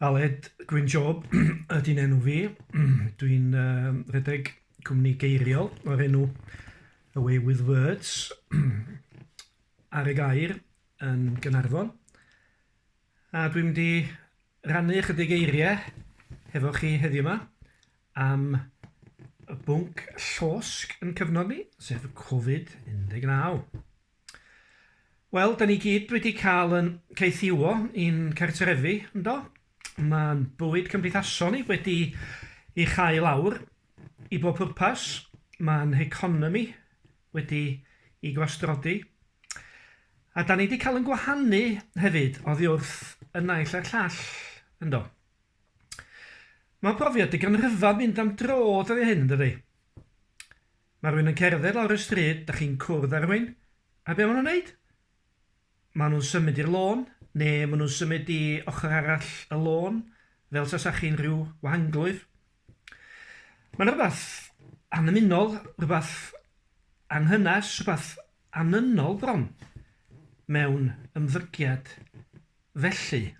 Aled Gwyn Job ydy'n enw fi. Dwi'n uh, rhedeg cwmni geiriol o'r enw Away with Words ar y gair yn Gynarfon. A dwi'n mynd i rannu ychydig eiriau hefo chi heddiw yma am y bwnc llosg yn cyfnod ni, sef Covid-19. Wel, da ni gyd wedi cael yn caethiwo i'n cartrefi, yndo? Mae'n bywyd cymdeithasol ni wedi ei chau lawr i bob pwrpas. Mae'n heconomi wedi ei gwastrodi. A da ni wedi cael yn gwahanu hefyd oddi wrth y naill a'r llall, yndo? Mae profiad digon rhyfedd mynd am dro dydy hyn, dydy? Mae rhywun yn cerdded lawr y stryd, dach chi'n cwrdd â rhywun, a be maen nhw'n wneud? Maen nhw'n symud i'r lôn, neu maen nhw'n symud i ochr arall y lôn, fel tasa chi'n rhyw wahanglwyf. Mae yna rhywbeth annymunol, rhywbeth anghynes, rhywbeth anynol bron mewn ymddygiad felly,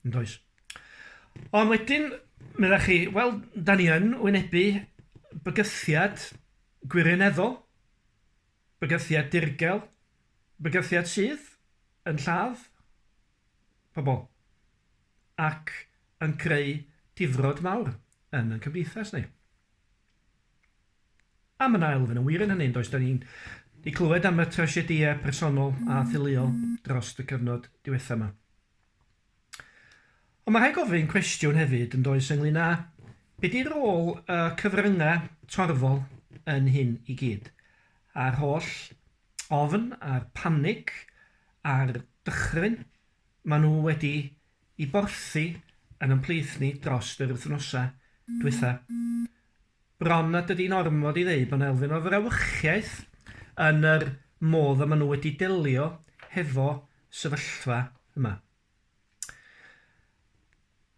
yn does? Ond wedyn, meddach chi, wel, da ni yn wynebu bygythiad gwirioneddol, bygythiad dirgel, bygythiad sydd yn lladd pobl ac yn creu difrod mawr yn ein cymdeithas ni. Am yn ail, fydd yn wir yn hynny, yn does, dan ni'n di clywed am y trasiedïau personol a theuluol dros y cyfnod diwetha yma. Ond mae rhaid gofyn cwestiwn hefyd, yn does, ynglyn â be di rôl y cyfryngau torfol yn hyn i gyd, a'r holl ofn a'r panig a'r dychryn maen nhw wedi i borthi yn yn plith ni drost yr wythnosa dwytha. Bron nad ydi'n ormod i ddeud bod 'na elfen o frawychiaeth yn yr modd y ma' nhw wedi delio hefo sefyllfa yma.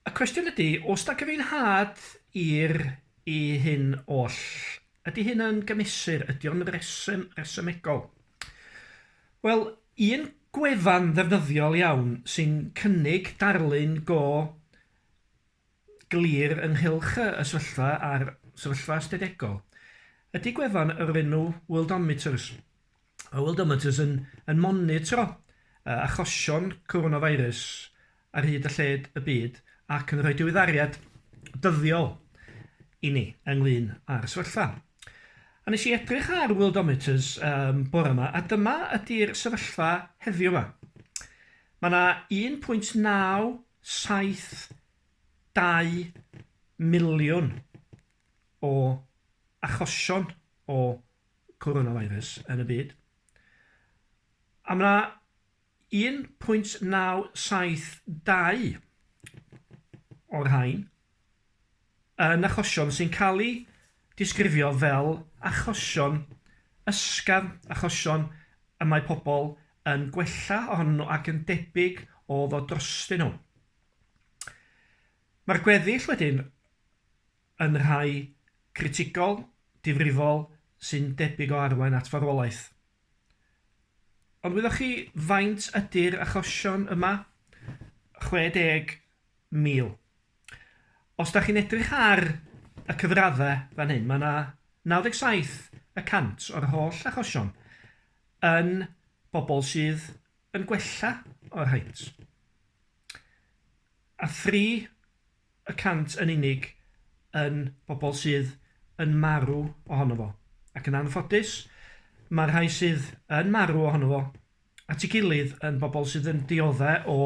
Y cwestiwn ydi, o's 'na gyfiawnhad i'r i hyn oll? Ydi hyn yn gymesur? Ydi o'n resym- resymegol? Wel, un gwefan ddefnyddiol iawn sy'n cynnig darlun go glir ynghylch y y sefyllfa a'r sefyllfa ystadegol ydy gwefan o'r enw Worldometers. Mae Worldometers yn yn monitro yy achosion coronavirus ar hyd a lled y byd ac yn rhoi diweddariad dyddiol i ni ynglŷn â'r sefyllfa. A nes i edrych ar Worldometers um, bore yma, a dyma ydy'r sefyllfa heddiw yma. Mae yna 1.972 miliwn o achosion o coronavirus yn y byd. A mae yna 1.972 o'r rhain yn achosion sy'n cael eu disgrifio fel achosion ysgafn, achosion y mae pobl yn gwella ohonyn nhw ac yn debyg o ddod drostyn nhw. Mae'r gweddill wedyn yn rhai critigol, difrifol, sy'n debyg o arwain at farwolaeth. Ond wyddoch chi faint ydy'r achosion yma? 60,000. Os da chi'n edrych ar y cyfraddau fan hyn, mae yna 97 y cant o'r holl achosion yn bobl sydd yn gwella o'r haint. A thri y cant yn unig yn bobl sydd yn marw ohono fo, ac yn anffodus, mae'r rhai sydd yn marw ohono fo at ei gilydd yn bobl sydd yn dioddef o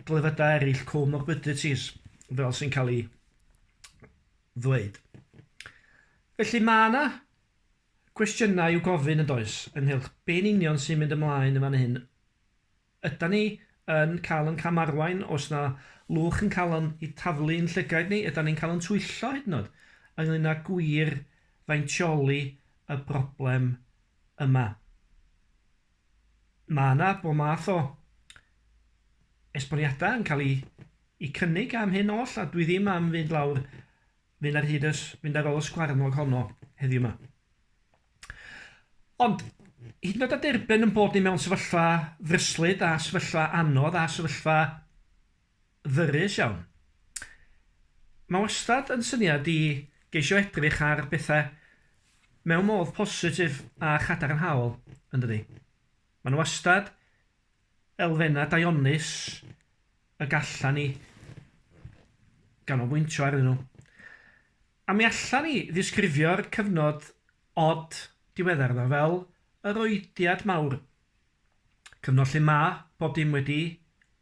glefydau eraill, co-morbidities, fel sy'n cael ei ddweud. Felly mae yna gwestiynau i'w gofyn yn does, ynghylch be'n union sy'n mynd ymlaen yn fan hyn Ydan ni yn cael yn cam-arwain os na lwch yn cael o'n i taflu i'n llygaid ni? Ydan ni'n cael o'n twyllo hyd yn oed ynglŷn â gwir faintioli y broblem yma? Mae yna bod math o esboniadau yn cael i cynnig am hyn oll a dwi ddim am fynd lawr, fynd ar hyd y, fynd ar ôl y sgwarnog honno heddiw 'ma. Ond, hyd yn oed â derbyn ein bod ni mewn sefyllfa ddryslyd a sefyllfa anodd a sefyllfa ddyrus iawn, mae wastad yn syniad i geisio edrych ar bethau mewn modd positif a chadarnhaol, yn dydi? Mae yna wastad elfennau daionus y gallan ni ganolbwyntio arnyn nhw. A mi allan ni ddisgrifio'r cyfnod od diweddar yma fel yr oediad mawr. Cyfnod lle ma' bob dim wedi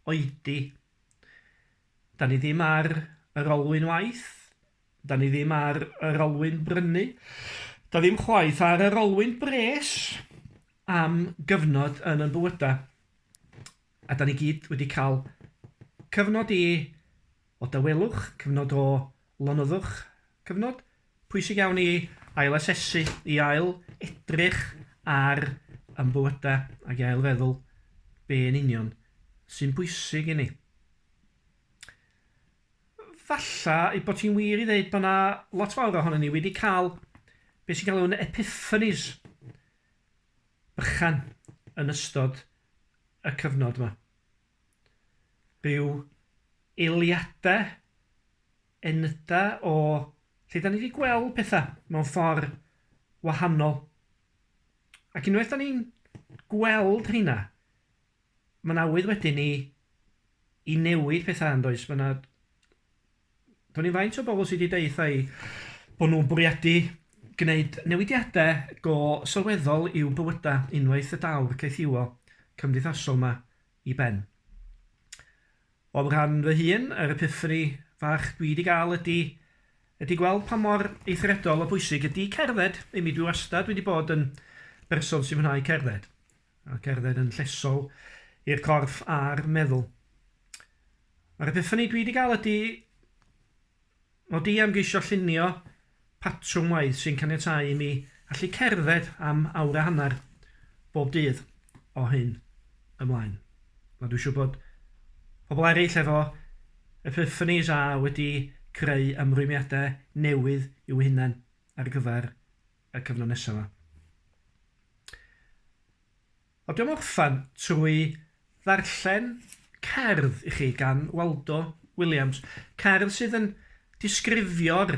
oedi. 'Da ni ddim ar yr olwyn waith, 'da ni ddim ar yr olwyn brynu, 'da ddim chwaith ar yr olwyn bres am gyfnod yn 'yn bywyda. A 'da ni gyd wedi ca'l cyfnod i o dawelwch, cyfnod o Lonyddwch, cyfnod pwysig iawn i ail-asesu, i ail edrych ar ein bywydau ac i ail feddwl be yn union sy'n bwysig i ni. Falla ei bod hi'n wir i ddeud bod yna lot fawr ohonyn ni wedi cael beth sy'n cael yn epiphanies bychan yn ystod y cyfnod yma. Byw eiliade enyda o lle da ni di gweld petha mewn ffor wahanol. Ac unwaith da ni'n gweld rheina, mae'n awydd wedyn i i newid petha yndoes? Mae na Do'n i'n faint o bobl sydd wedi deutha i bod nhw'n bwriadu gwneud newidiadau go sylweddol i'w bywydau unwaith y daw'r caethiwo cymdeithasol 'ma i ben. O'm rhan fy hun, yr epiffani fach dwi 'di gael ydi ydi gweld pa mor eithriadol o bwysig ydi cerdded imi dwi wastad wedi bod yn berson sy'n mwynhau cerdded. a gerdded yn llesol i'r corff a'r meddwl. Mae'r epiphany dwi wedi cael ydy o di am geisio llunio patrwm waith sy'n caniatau i mi allu cerdded am awr a hanner bob dydd o hyn ymlaen. Mae dwi siw bod pobl eraill efo epiphanies a wedi creu ymrwymiadau newydd i'w hunain ar gyfer y cyfnod nesaf 'ma. A dwi am orffen trwy ddarllen cerdd i chi gan Waldo Williams. Cerdd sydd yn disgrifio'r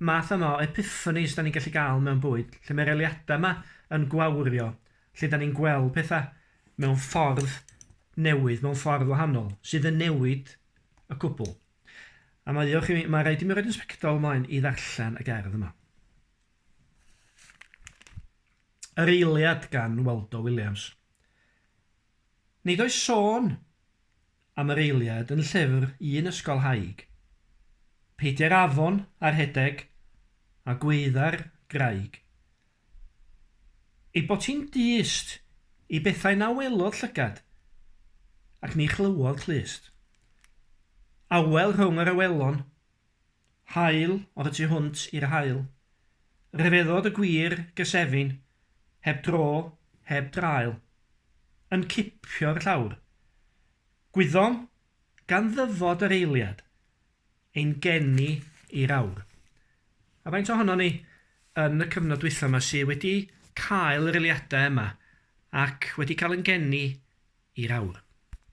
math yma o epiphanies da ni'n gallu gael mewn bywyd, lle mae'r eliadau yma yn gwawrio, lle da ni'n gweld pethau mewn ffordd newydd, mewn ffordd wahanol, sydd yn newid y cwbl. A mae, mae rhaid i mi roed yn sbectol ymlaen i ddarllen y gerdd yma. Yr eiliad gan Waldo Williams. Nid oes sôn am yr eiliad yn llyfr un ysgolhaig. Peidiai'r afon a rhedeg, a gwaedda'r graig. Ei bod hi'n dyst i bethau na welodd llygad, ac ni chlywodd clust. Awel rhwng yr awelon Haul oedd y tu hwnt i'r haul. Rhyfeddod y gwir gysefin, heb dro, heb draul. Yn cipio'r llawr. Gwyddom, gan ddyfod yr eiliad, ein geni i'r awr. A faint ohonon ni, yn y cyfnod dwytha yma, sy wedi cael yr eiliadau yma ac wedi cael yn geni i'r awr?